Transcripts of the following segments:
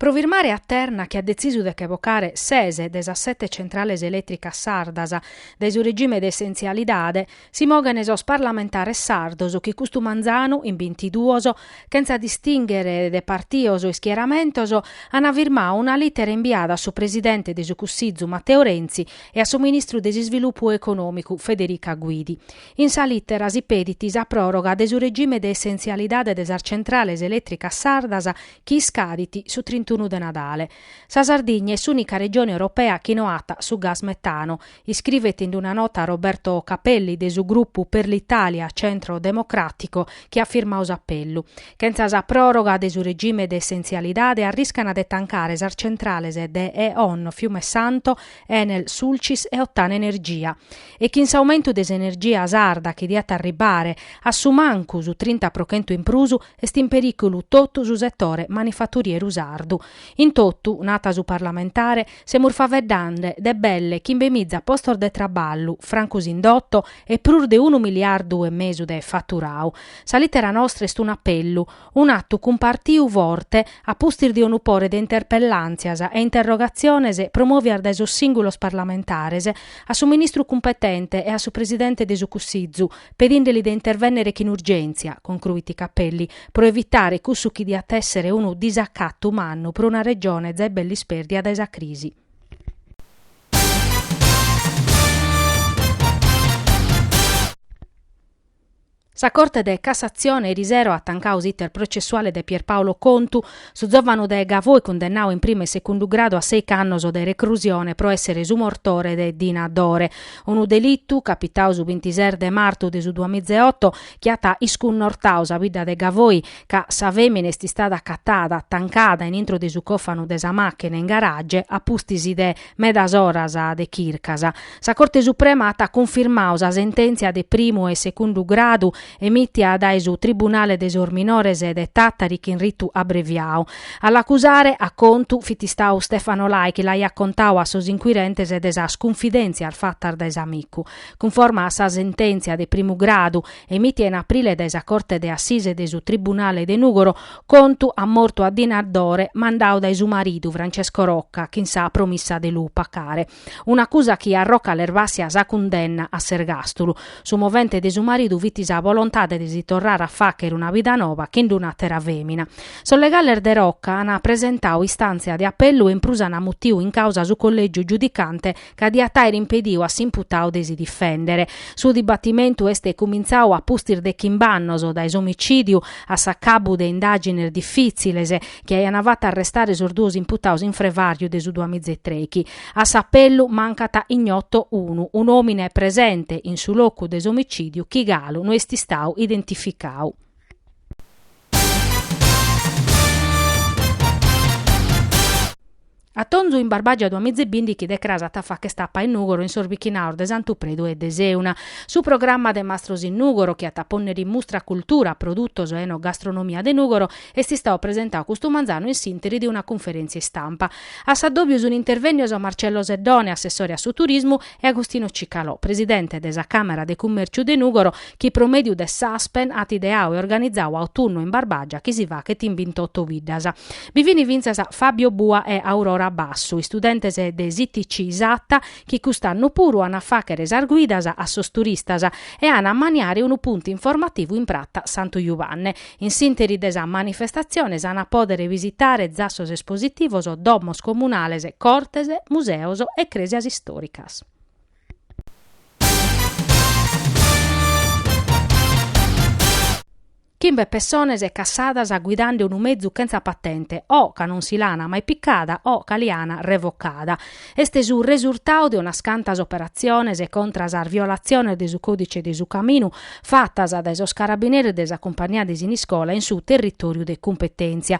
Pro firmare a Terna chi at detzisu de ch'evocare ses de sas sete centrales elètricas sardas dae su regime de essentzialidade si moghent sos parlamentares sardos chi custu manzanu, in bintiduos, chentza distinghere de partidos e ischieramentos, ant firmadu una lìtera imbiada a su presidente de su Cussizu Matteo Renzi e a su ministru de s'Isvilupu Econòmicu Federica Guidi. In sa lìtera si pedit sa pròroga de su regime de essentzialidade de sas centrales elètricas sardas chi iscadit su trintunu de Nadale. Sa Sardigna est s'ùnica regione europea chi no at su gas metano, iscrivet in una nota Roberto Cappelli de su grupu Per l'Italia, Centro Democratico, chi at firmadu s'apellu. Chentza sa pròroga de su regime de essentzialidade arriscana de tancare sas centrales de E.ON Fiume Santo, Enel Sulcis e Ottana Energia. E chin s'aumentu de s'energia sarda chi diat arribare a su mancu su trinta pro chentu in prus, Est in perìculu totu su setore manifaturieru sardu. In totu, nat su parlamentare, semus faeddende de belle chimbe miza postos de traballu, francu s'indotu e prus de unu miliardu e mesu de faturau. Sa lìtera nostra est un'apellu, un'atu cumpartiu forte a pustis de unu pore de interpellàntzias e interrogatziones promòvias dae sos sìngulos parlamentares a su ministru cumpetente e a su presidente de su Cussizu, pedìndeli de intervènnere chin urgèntzia, concruit Cappelli, pro evitare cussu chi diat èssere unu disacatu mannu pro una Regione zai belle ispèrdia dae sa crisi. Sa Corte de Cassatzione erisero at tancadu s'iter processuale de Pierpaolo Contu, Su zòvanu de Gavoi cundennadu in primu e segundu gradu a seic'annos de recrusione pro èssere su mortore de Dina Dore, unu delitu capitadu su bintises de martu de su duamiza e oto chi at iscunnortadu sa bidda de Gavoi ca sa fèmina est istada acatada tancada in intro de su còfanu de sa màchina in garage a pustis de medas oras de chircas. Sa Corte Suprema at cunfirmadu sa sentèntzia de primu e segundu gradu emitia dae su Tribunale de sos Minores de Tàtari chin ritu abreviadu. A l'acusare, a Contu, fit istadu Stefano Lai chi l'aiat contadu a sos inquirentes de sas cunfidèntzias fatas dae s'amicu. Cunforma a sa sentèntzia de primu gradu, emitia in aprile dae sa Corte de Assise de su Tribunale de Nùgoro, Contu at mortu a Dina Dore mandadu dae su maridu, Francesco Rocca, chin sa promissa de lu pacare. un'acusa chi a Rocca l'er vàssia sa cundenna a s'ergàstulu. Su movente de su maridu fit sa bolontade de si torrare a fàghere una vida nova chin d'un'àtera fèmina. Sos legales de Rocca ant presentadu istàntzia de apellu e in prus ant mutiu in càusa su collègiu giudicante ca diat àere impedidu a s'imputadu de si difèndere. Su dibatimentu est cumintzadu a pustis de chimb'annos dae s'omicìdiu a s'acabu de indàgines difìtziles, chi aiant fatu arrestare sos duos imputaos in frevàriu de su duamiza e trechi. A s'apellu mancat ignoto unu, un'òmine presente in su locu de s'omicìdiu chi galu no est istau identificau. Atonzu in Barbagia duamiza e bìndichi de cras at a fàcher tapa in Nùgoro in sos bichinaos de Santu Predu e de Seuna. Su programma de Mastros in Nùgoro, chi at a pònnere in mustra cultura, produtos e enogastronomia de Nùgoro, est istau presentau custu manzanu in s'ìnteri de una cunferèntzia istampa. A s'addòbiu sunt intervènnios Marcello Seddone, assessore a su turismu, e Agostino Cicalò, presidente de sa Càmera de Cummèrciu de Nùgoro, chi pro mèdiu de s'Aspen at ideau e organizau Autunnu in Barbàgia chi si fachet in bintotu biddas. Bi fin fintzas Fabio Bua e Aurora Bassu, istudentes de s'ITC Satta, chi cust'annu puru an a fàchere sas guidas a sos turistas e an a maniare unu puntu informativu in Prata Santu Juvanne. In s'ìnteri de sa manifestatzione s'an a pòdere visitare zassos espositivos, domos comunales, cortes, museos e crèsias istòricas. Chimbe pessones cassadas guidande unu mezu chentza patente o ca non si l'ana mai picada o ca li ana revocada. Est su resurtau de unas cantas operatziones contra sas violatziones de su Còdice de su Caminu fatas dae sos carabineris de sa cumpagnia de Siniscola in su territòriu de cumpetèntzia.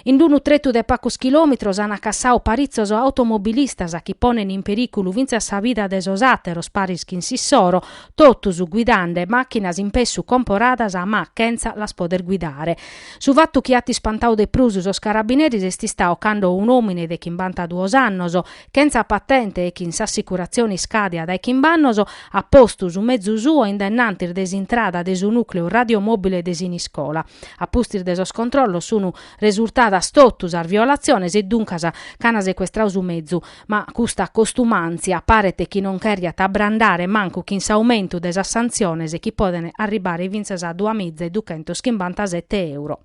In unu tretu de pacos chilòmetros ant cassau paritzos automobilistas chi ponent in perìculu fintzas sa vida de sos àteros paris chin s'issoro, totus guidande màchinas in pessu comporadas ma chentza las poder guidare. Su fatu chi at ispantau de prus sos carabineris est istau cando un'òmine de chimbantaduos annos, chentza patente e chin s'assicuratzione iscàdia dae chimb'annos, at postu su mezu suo in dennantis de s'intrada de su nùcleu radiomòbile de Siniscola. A pustis de sos controllos sunt resurtadas totu sas violatziones e duncas ch'ant secuestrau su mezu. Ma custa costumàntzia paret chi non chèrriat abrandare mancu chin s'aumentu de sas santziones chi poden arribare fintzas a duamiza e duchentos chimbantasete euro.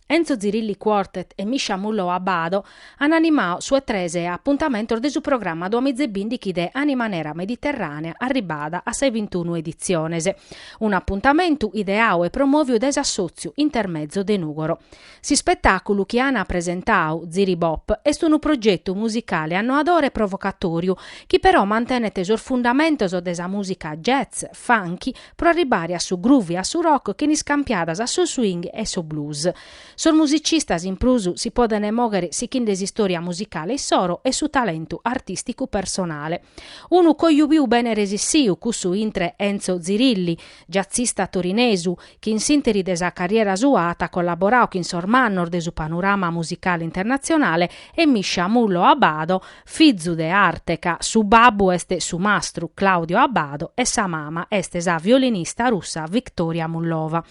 Enzo Zirilli Quartet e Misha Mullov-Abbado an animau su 'e tres apuntamentos de su programma duamiza e bìndichi de Animanera Mediterranea arribada a sas bintunu editziones. Unu apuntamentu ideau e promòviu dae s'Assòtziu Intermezzo de Nùgoro. S'ispetàculu chi an presentau, Ziribop, est unu progetu musicale annoadore e provocatòriu, chi però mantenet sos fundamentos de sa mùsica jazz, funky, pro arribare a su groove e a su rock chin iscampiadas a su swing e su blues. Sos musicistas in prus si podent mòghere sichende s'istòria musicale issoro e su talentu artìsticu personale. Unu coju piu bene resissiu, cussu intre Enzo Zirilli, jazzista torinesu, chi in s'ìnteri de sa carriera sua at collaboradu chin sos mannos de su panorama musicale internatzionale, e Misha Mullov Abbado, fizu de arte ca su babbu est su mastru Claudio Abbado e sa mama est sa violinista russa Viktoria Mullova.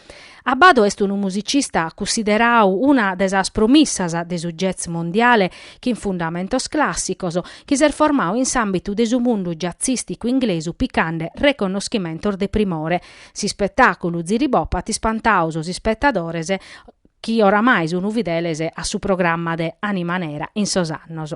Abbado est unu musicista cussideradu una de sas promissas de su jazz mondiale chin fundamentos clàssicos, chi s'est formadu in s'àmbitu de su mundu jazzìsticu inglesu picande reconnoschimentos de primore. S'ispetàculu Ziribop at ispantadu sos ispetadores chi oramai sunt fideles a su programma de Anima Nera in sos annos.